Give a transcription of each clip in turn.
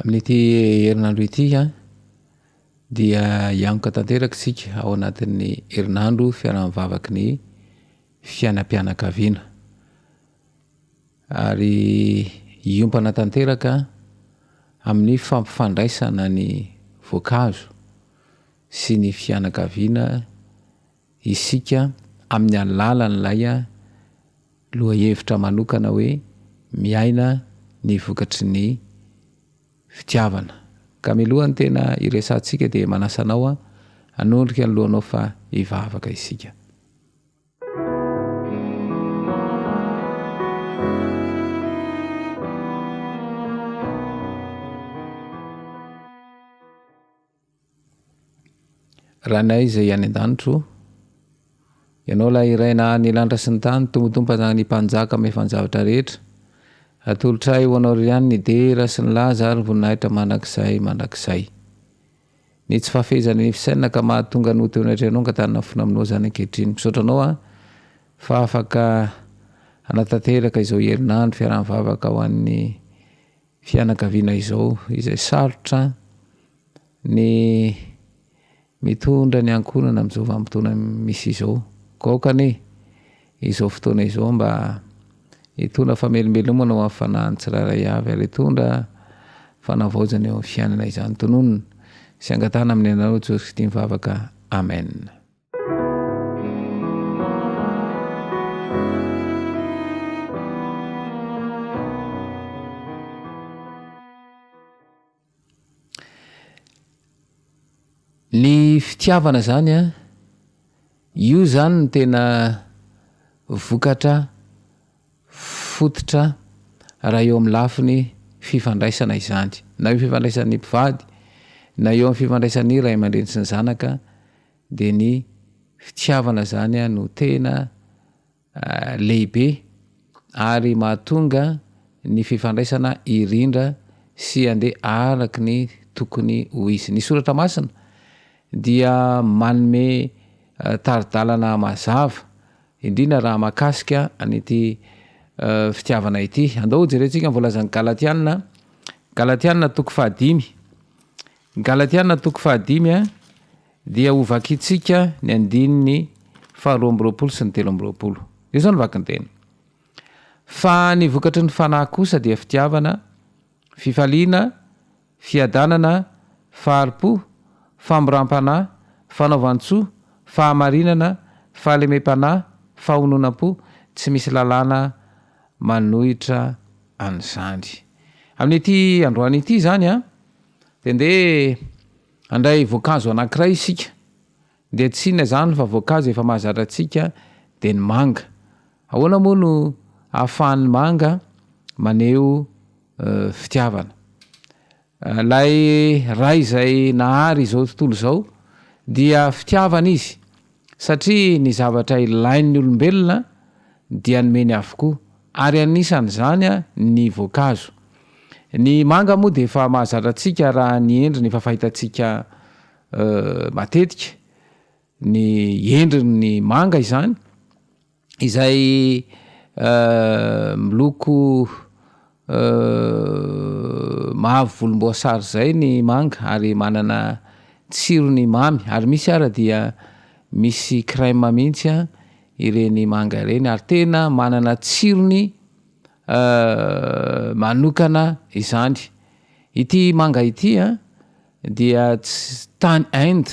Amin'ity herinandro ity a, dia hianoka tanteraka isika ao anatin'ny herinandro fiaraha mivavaky ny fiainam-pianakaviana, ary hiompana tanteraka amin'ny fampifandraisana ny voankazo sy ny fianakaviana. isika amin'ny alalan'ilay lohahevitra manokana hoe miaina ny vokatry ny fitiavana. Ka milohan'ny tena hiresahantsika dia manasa anao hanondrika ny lohanao fa hivavaka isika. Ranay izay any an-danitro o! Ianao ilay iray naha ny lanitra sy ny tany, Tompotompoka ny Mpanjaka Mahefa-javatra rehetra. Atolotra ahy ho Anao ry ihany ny dera sy ny laza ary ny voninahitra mandrakizay mandrakizay. Ny tsy fahafehezana ny fisainana ka mahatonga ny ho teo anatrehanao angatanana fona aminao izany ankehitriny. Misaotra Anao aho fa afaka hanatanteraka izao herinandro fiaraha-mivavaka ho an'ny fianakaviana izao izay sarotra ny mitondra ny ankohonana amin'izao vanim-potoana misy izao. Koa aoka anie izao fotoana izao mba hitondra famelombelomana ho amin'ny fanahin'ny tsirairay avy ary hitondra fanavaozana eo amin'ny fiainana izany. Tononina sy angatahana amin'i Anareo Jesosy Kristy mivavaka. Amen. Ny fitiavana izany an, io izany no tena vokatra fototra raha eo amin'ny lafiny fifandraisana izany, na eo amin'ny fifandraisan'ny mpivady, na eo amin'ny fifandraisan'ny ray aman-dreny sy ny zanaka. dia ny fitiavana izany no tena lehibe ary mahatonga ny fifandraisana hirindra sy handeha araka ny tokony ho izy. Ny Soratra Masina dia manome tari-dalana mazava indrindra raha mahakasika an'ity fitiavana ity. Andao hojerentsika ny voalazan'ny Galatiana, Galatiana toko fahadimy, Galatiana toko fahadimy dia ho vakintsika ny andininy faharoa amby roapolo sy ny telo amby roapolo. Io izao ny vakinteny. Fa ny vokatry ny fanahy kosa dia fitiavana, fifaliana, fiadanana, fahari-po, famoram-panahy, fanaovan-tsoa, fahamarinana, fahalemem-panahy, fahononam-po, tsy misy lalàna manohitra an'izany. Amin'ity androany ity izany an! Dia ndeha handray voankazo anankiray isika, dia tsy inona izany fa voankazo efa mahazatra antsika dia ny manga. Ahoana moa no ahafahan'ny manga maneho fitiavana? Ilay ray izay nahary izao tontolo izao dia fitiavana izy, Satria ny zavatra ilain'ny olombelona dia nomeny avokoa, ary anisan'izany ny voankazo. Ny manga moa dia efa mahazatra antsika raha ny endriny efa fahitantsika matetika ny endriny ny manga izany. izay miloko mavo volomboasary izay ny manga ary manana tsirony mamy ary misy ara dia misy crème mihitsy an ireny manga ireny ary tena manana tsirony manokana izany ity manga ity an dia tany Inde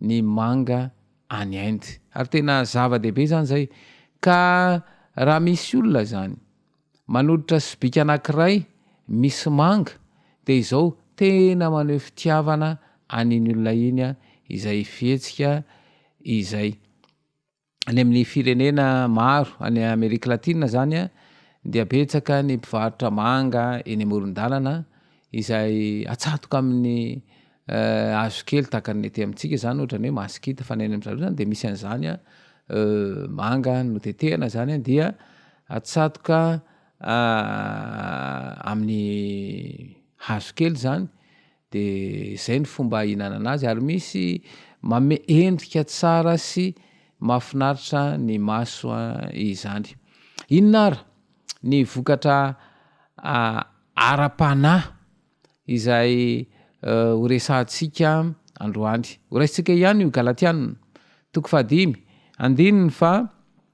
ny manga any Inde. Ary tena zava-dehibe izany izay. Ka raha misy olona izany, manoditra sobika anankiray misy manga, dia izao tena maneho fitiavana an'iny olona iny izay fihetsika izay. any amin'ny firenena maro any Amerika Latina zany a, dia betsaka ny mpivarotra manga eny amoron-dalana izay atsatoka amin'ny hazo kely tahaka ny ety amintsika zany ohatra ny hoe masikita fa ny any amin-dry zareo zany dia misy an'izany a, manga notetehana zany a dia atsatoka amin'ny hazo kely zany. de zay ny fomba ihinanana azy ary misy manome endrika tsara sy mahafinaritra ny maso izany. Inona ary ny vokatra ara-panahy izay ho resahantsika androany? Horaisintsika ihany io Galatiana toko fahadimy andininy fa.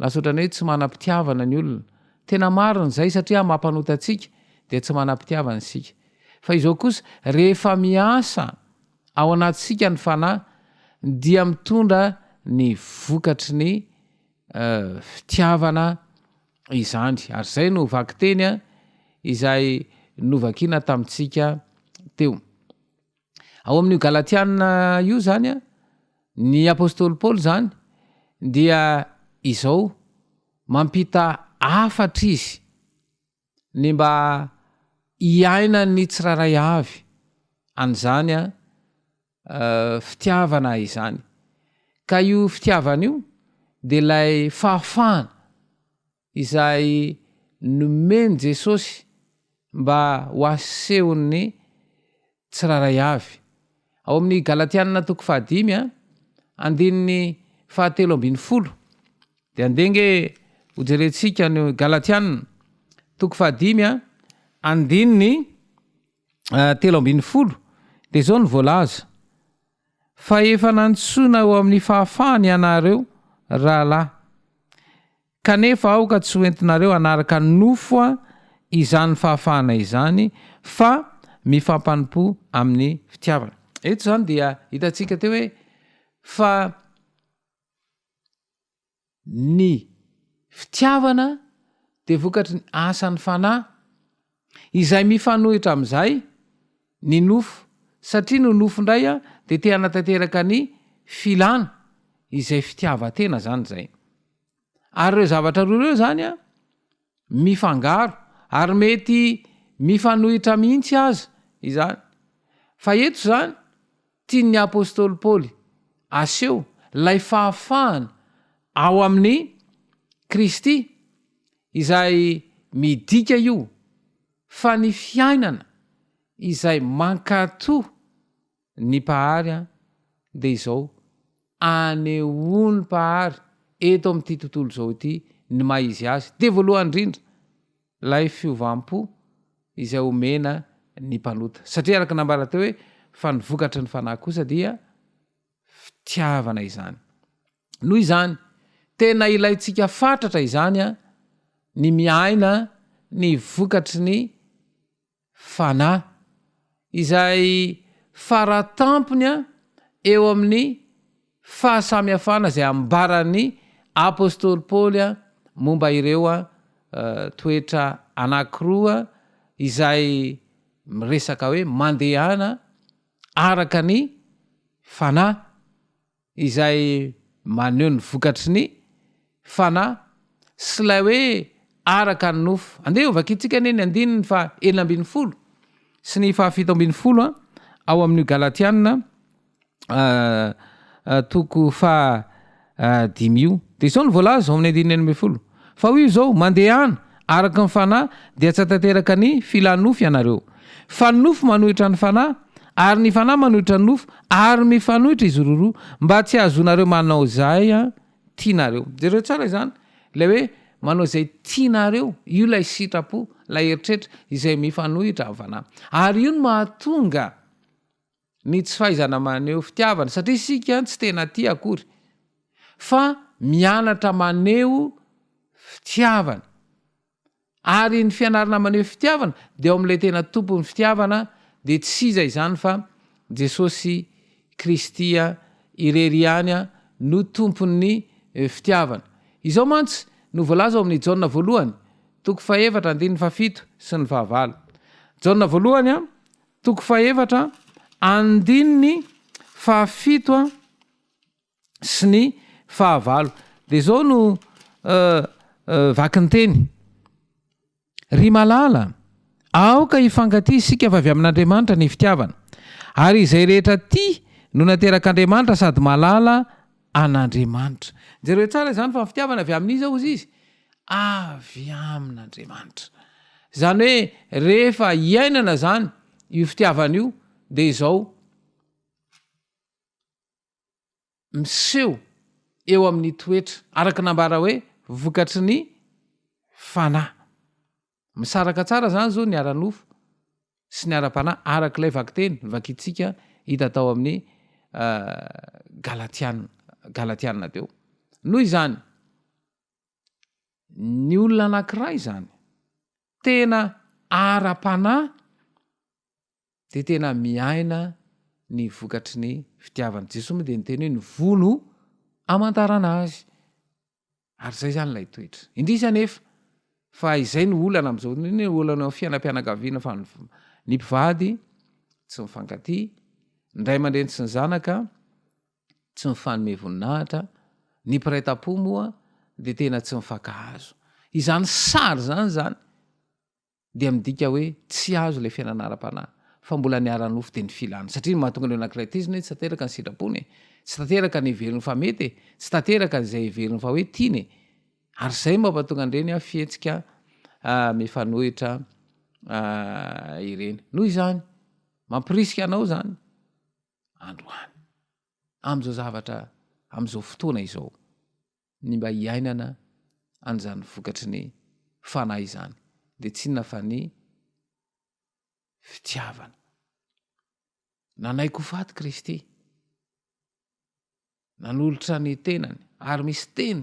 Lasa ohatran'ny hoe tsy manam-pitiavana ny olona. Tena marina izay satria mampanota antsika dia tsy manam-pitiavana isika. Fa izao kosa, rehefa miasa ao anatintsika ny Fanahy dia mitondra ny vokatry ny fitiavana izany. Ary izay no vakiteny izay novakina tamintsika teo. Ao amin'io Galatiana io izany, ny apostoly Paoly izany dia izao, mampita hafatra izy ny mba hiainan'ny tsirairay avy an'izany fitiavana izany. Ka io fitiavana io dia ilay fahafahana izay nomen'i Jesosy mba ho asehon'ny tsirairay avy. Ao amin'ny Galatianina toko fahadimy, andininy fahatelo ambin'ny folo, dia andeha ange hojerentsika ny Galatianina toko fahadimy, andininy eh, telo ambin'ny folo, dia izao no voalaza, fa efa nantsoina ho amin'ny fahafahana ianareo rahalahy, Kanefa aoka tsy hoentinareo hanaraka nofo izany fahafahana izany, fa mifampanompo amin'ny fitiavana. Eto izany dia hitantsika teo hoe fa ny fitiavana dia vokatry ny asan'ny Fanahy. Izay mifanohitra amin'izay ny nofo, satria ny nofo indray dia te hanatanteraka ny filana, izay fitiavan-tena izany izay. Ary ireo zavatra roa ireo izany mifangaro, ary mety mifanohitra mihitsy aza izany. Fa eto izany, tian'ny apostoly Paoly aseho ilay fahafahana ao amin'i Kristy, Izay midika io fa ny fiainana izay mankato ny Mpahary an dia izao anehoany Mpahary eto amin'ity tontolo izao ity ny maha izy azy dia voalohany indrindra ilay fiovam-po izay omena ny mpanota satria araka ny nambara teo hoe fa ny vokatry ny fanahy kosa dia fitiavana izany. Noho izany, tena ilaintsika fatratra izany ny miaina ny vokatry ny Fanahy, izay faratampony eo amin'ny fahasamihafana izay ambaran'ny apostoly Paoly momba ireo toetra anankiroa izay miresaka hoe mandehana araka ny Fanahy. izay maneho ny vokatry ny Fanahy sy ilay hoe araka ny nofo. Andeha hovakiantsika anie ny andininy faha enina ambin'ny folo sy ny faha fito ambin'ny folo ao amin'io Galatiana toko faha dimy io. Dia izao no voalaza ao amin'ny andininy enina ambin'ny folo, Fa hoy Izy izao, Mandehana, Araka ny Fanahy, dia tsy hahatanteraka ny filàn'ny nofo ianareo. Fa ny nofo manohitra ny Fanahy, ary ny Fanahy manohitra ny nofo, ary mifanohitra izy roroa, mba tsy hahazoanareo manao izay tianareo. Jereo tsara izany, ilay hoe manao izay tianareo, io ilay sitrapo, ilay eritreritra izay mifanohitra amin'ny Fanahy. Ary io no mahatonga ny tsy fahaizana maneho fitiavana, satria isika tsy tena tia akory, fa mianatra maneho fitiavana. Ary ny fianarana maneho fitiavana dia ao amin'ilay tena tompon'ny fitiavana, dia tsy iza izany fa Jesosy Kristy irery ihany no tompon'ny fitiavana. Izao mantsy no voalaza ao amin'ny Jaona voalohany, toko fahefatra, andininy fahafito sy ny fahavalo. Jaona voalohany, Toko fahefatra, andininy fahafito sy ny fahavalo, dia izao no vakinteny, Ry malala, aoka hifankatia isika fa avy amin'Andriamanitra ny fitiavana, ary izay rehetra tia no naterak'Andriamanitra sady malala an'Andriamanitra. Jereo tsara izany fa ny fitiavana avy amin'iza hozy izy? Avy amin'Andriamanitra. Izany hoe rehefa iainana izany io fitiavana io dia izao miseho eo amin'ny toetra, araka ny nambara hoe vokatry ny fanahy. Misaraka tsara izany izao ny ara-nofo sy ny ara-panahy araka ilay vakiteny vakintsika hita tao amin'ny Galatiana, Galatiana teo. Noho izany, ny olona anankiray izany tena ara-panahy dia tena miaina ny vokatry ny fitiavana. Jesoa moa dia niteny hoe ny vono amantarana azy. ary zay zany ilay toetra indrisy anefa fa izay ny olana am'izao nny olana o fiainam-pianakaviana fa ny mpivady tsy mifankaty ndray aman-dreny tsy ny zanaka tsy mifanome voninahitra ny mpiray tam-po moa de tena tsy mifankahazo izany sary zany zany dia midika hoe tsy azo ilay fiainana ara-panahy, fa mbola ny ara-nofo dia ny filana. Satria ny mahatonga ny olona anankiray tezitra hoe tsy tanteraka ny sitrapony e, tsy tanteraka ny heveriny fa mety e, tsy tanteraka an'izay heveriny fa hoe tiany e. Ary izay no mampatonga an'ireny fihetsika ah, mifanohitra ah, ireny. Noho izany, mampirisika anao izany androany, amin'izao zavatra, amin'izao fotoana izao. ny mba hiainana an'izany vokatry ny Fanahy izany, dia tsy inona fa ny fitiavana. Nanaiky ho faty Kristy, nanolotra ny tenany, ary misy teny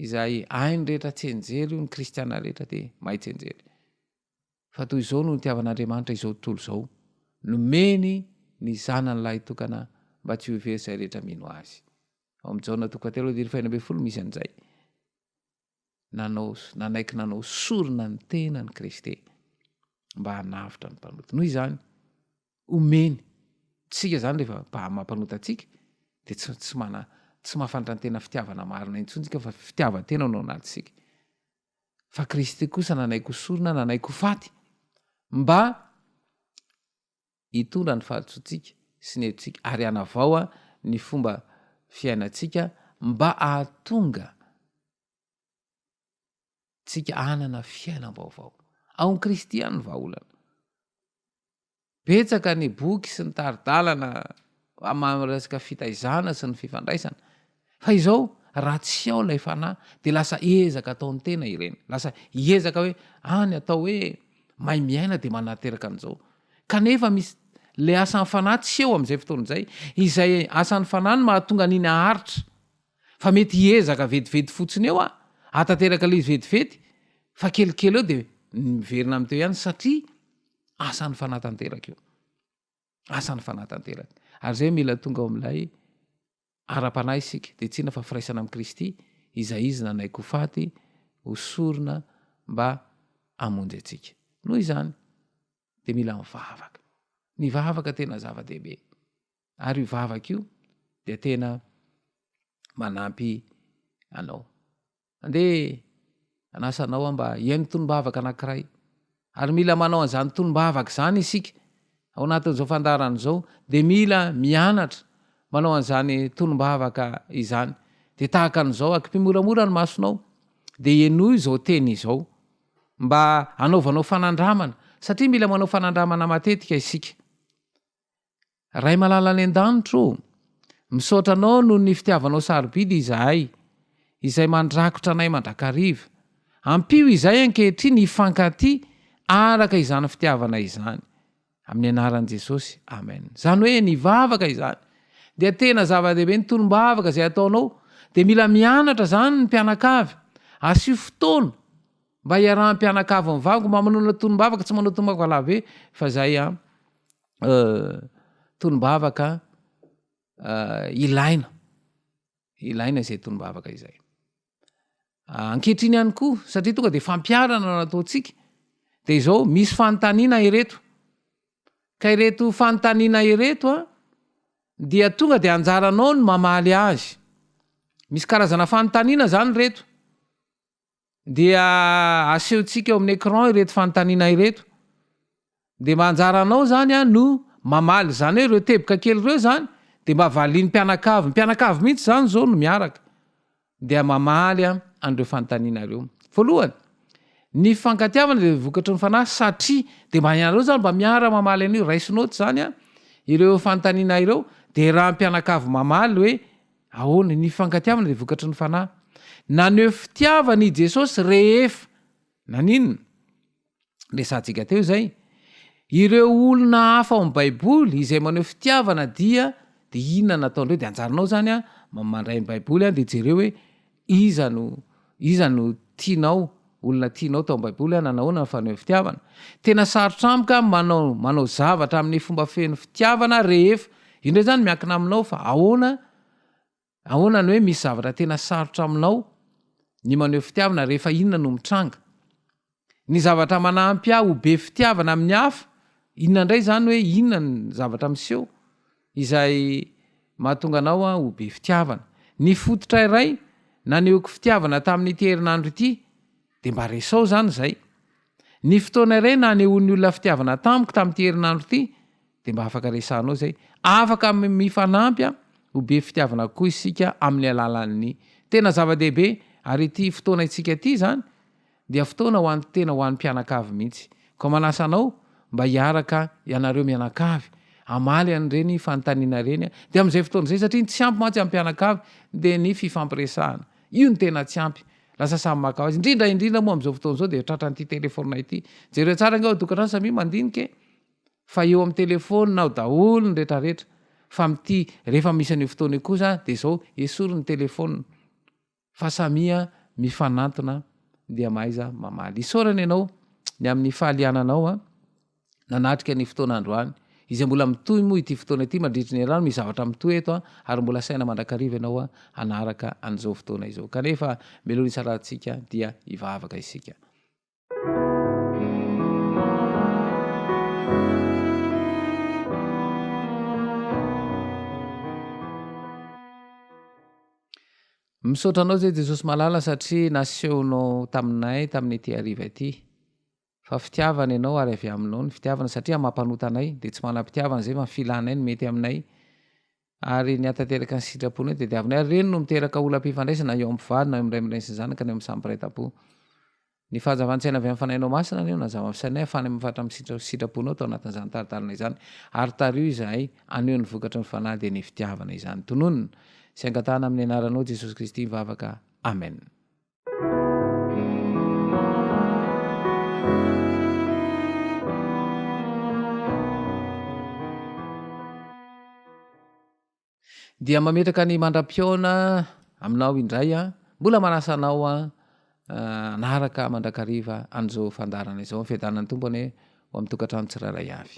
izay hainy rehetra tsenjery io ny kristiana rehetra dia mahay tsenjery. Fa toy izao no nitiavan'Andriamanitra izao tontolo izao, nomeny ny Zanany lahitokana mba tsy ho very izay rehetra mino Azy. Ao amin'ny Jaona toko fahatelo andininy faheno ambin'ny folo misy an'izay. Nanao, nanaiky nanao sorona ny tenany Kristy mba hanavotra ny mpanota. Noho izany, omeny. Tsika izany rehefa maha-mampanota antsika, dia tsy, tsy mana, tsy mahafantatra ny tena fitiavana marina intsony tsika fa fitiavan-tena no anatisika. fa Kristy kosa nanaiky ho sorona, nanaiky ho faty mba hitondra ny fahadisoantsika sy ny helotsika ary hanavaoa ny fomba fiainantsika mba ahatonga tsika hanana fiainam-baovao. Ao amin'i Kristy ihany ny vahaolana. Betsaka ny boky sy ny tari-dalana amin'ny resaka fitaizana sy ny fifandraisana. Fa izao, raha tsy ao ilay fanahy, dia lasa ezaka ataon'ny tena ireny. Lasa ezaka hoe, ah, ny atao hoe mahay miaina dia manateraka an'izao. Kanefa misy, ilay asan'ny fanahy tsy eo amin'izay fotoana izay. Izay asan'ny fanahy no mahatonga an'iny haharitra. Fa mety hiezaka vetivety fotsiny eo aho, hahatateraka ilay izy vetivety, fa kelikely eo dia miverina amin'ny teo ihany, satria, Asan'ny fanatanteraka io. Asan'ny fanatanteraka. Ary izay mila tonga ao amin'ilay ara-panahy isika, dia tsy inona fa firaisana amin'i Kristy, izay izy nanaiky ho faty, ho sorona mba hamonjy antsika. Noho izany, dia mila mivavaka. Ny vavaka tena zava-dehibe. Ary io vavaka io dia tena manampy anao. Andeha hanasa anao aho mba hihaino tonom-bavaka anankiray. Ary mila manao an'izany tonom-bavaka izany isika ao anatin'izao fandaharana izao, dia mila mianatra manao an'izany tonom-bavaka izany. Dia tahaka an'izao, akipy moramora ny masonao, dia henoy izao teny izao, mba hanaovanao fanandramana, satria mila manao fanandramana matetika isika. Ray malala any an-danitra o! Misaotra Anao noho ny fitiavanao sarobidy izahay, izay mandrakotra anay mandrakariva. Ampio izahay ankehitriny hifankatia araka izany fitiavana izany. Amin'ny anaran'i Jesosy, Amen. Izany hoe ny vavaka izany dia tena zava-dehibe, ny tolom-bavaka izay ataonao dia mila mianatra izany ny mpianakavy. Asio fotoana mba hiarahan'ny mpianakavy mivavaka, mba manao tolom-bavaka, tsy manao tolom-bavaka lava be fa izay an. tolombavaka ilaina, ilaina izay tolombavaka izay. Ankehitriny ihany koa, satria tonga dia fampiarana no ataontsika, dia izao misy fanontaniana ireto. Ka ireto fanontaniana ireto a, dia tonga dia anjaranao ny mamaly azy. Misy karazana fanontaniana zany ireto. dia asehontsika eo amin'ny écran ireto fanontaniana ireto. Dia mba anjaranao izany no mamaly izany hoe ireo teboka kely ireo izany dia mba valian'ny mpianakavy. Ny mpianakavy mihitsy izany izao no miaraka dia mamaly an'ireo fanontaniana ireo. Voalohany, ny fifankatiavana dia vokatry ny fanahy satria dia mba ianareo izany mba miara mamaly an'io, raisinao ato izany ireo fanontaniana ireo dia raha ny mpianakavy mamaly hoe. Ahoana? Ny fifankatiavana dia vokatry ny fanahy. Naneho fitiavana i Jesosy rehefa naninona? Resahantsika teo izay. Ireo olona hafa ao amin'ny Baiboly izay maneho fitiavana dia dia inona nataon'ireo? Dia anjaranao izany mandray ny Baiboly dia jereo hoe Iza no, iza no tianao, olona tianao tao amin'ny Baiboly, hanana ahoana ny fanehoan'ny fitiavana? Tena sarotra amiko ny manao, manao zavatra amin'ny fomba feno fitiavana rehefa, io indray izany miankina aminao fa ahoana, ahoana ny hoe misy zavatra tena sarotra aminao ny maneho fitiavana rehefa inona no mitranga? Ny zavatra manampy ahy ho be fitiavana amin'ny hafa, inona indray izany hoe inona ny zavatra miseho izay mahatonga anao ho be fitiavana? Ny fototra iray nanehoako fitiavana tamin'ity herinandro ity dia mba resao izany izay. Ny fotoana iray nanehoan'ny olona fitiavana tamiko tamin'ity herinandro ity dia mba afaka resahanao izay. Afaka mifanampy ho be fitiavana kokoa isika amin'ny alalan'ny. Tena zava-dehibe ary ity fotoana antsika ity izany Dia fotoana ho an'ny tena ho an'ny mpianakavy mihitsy. Koa manasa anao mba hiaraka ianareo mianakavy hamaly an'ireny fanontaniana ireny dia amin'izay fotoana izay satria ny tsy ampy mantsy amin'ny mpianakavy dia ny fifampiresahana. Io no tena tsy ampy. Lasa samy maka ho azy. Indrindra indrindra moa amin'izao fotoana izao dia tratran'ity telefaonina ity. Jereo tsara ange ao an-tokantrano samia mandinika e! Fa eo amin'ny telefaonina ao daholo ny retraretra. Fa amin'ity rehefa misy an'io fotoana io kosa dia izao, esory ny telefaonina. fa samia mifanantona dia mahaiza mamaly. Isaorana ianao ny amin'ny fahaliananao nanatrika ny fotoana androany, izay mbola mitohy moa ity fotoana ity mandritry ny herinandro, misy zavatra mitohy eto ary mbola saina mandrakariva ianao hanaraka an'izao fotoana izao. Kanefa meloha ny salantsika dia hivavaka isika. Misaotra anao izay Jesosy malala satria nasehonao taminay tamin'ity hariva ity fa fitiavana ianao ary avy aminao ny fitiavana satria amam-panota anay dia tsy manam-pitiavana izay fa ny filanay no mety aminay ary ny hahatanteraka ny sitraponay dia diavina ary ireny no miteraka olam-pifandraisana eo amin'ny mpivady na eo amin'ny ray aman-dreny sy ny zanaka na eo amin'ny samy mpiray tampo. Ny fahazavan-tsaina avy amin'ny Fanahinao Masina anie no hanazava amin'ny sainay hafahana amin'ny faritra amin'ny sitraponao tao anatin'izany tari-dalana izany ary tario izahay haneho ny vokatry ny Fanahy dia ny fitiavana izany. Tononina sy angatahana amin'ny anaranao Jesosy Kristy ny vavaka. Amen. dia mametraka ny mandra-piaona aminao indray a mbola manasa anao a anaraka mandrakariva an'izao fandarana izao ny fiadanan'ny tompo anie ho amin'ny tokantrano tsirairay avy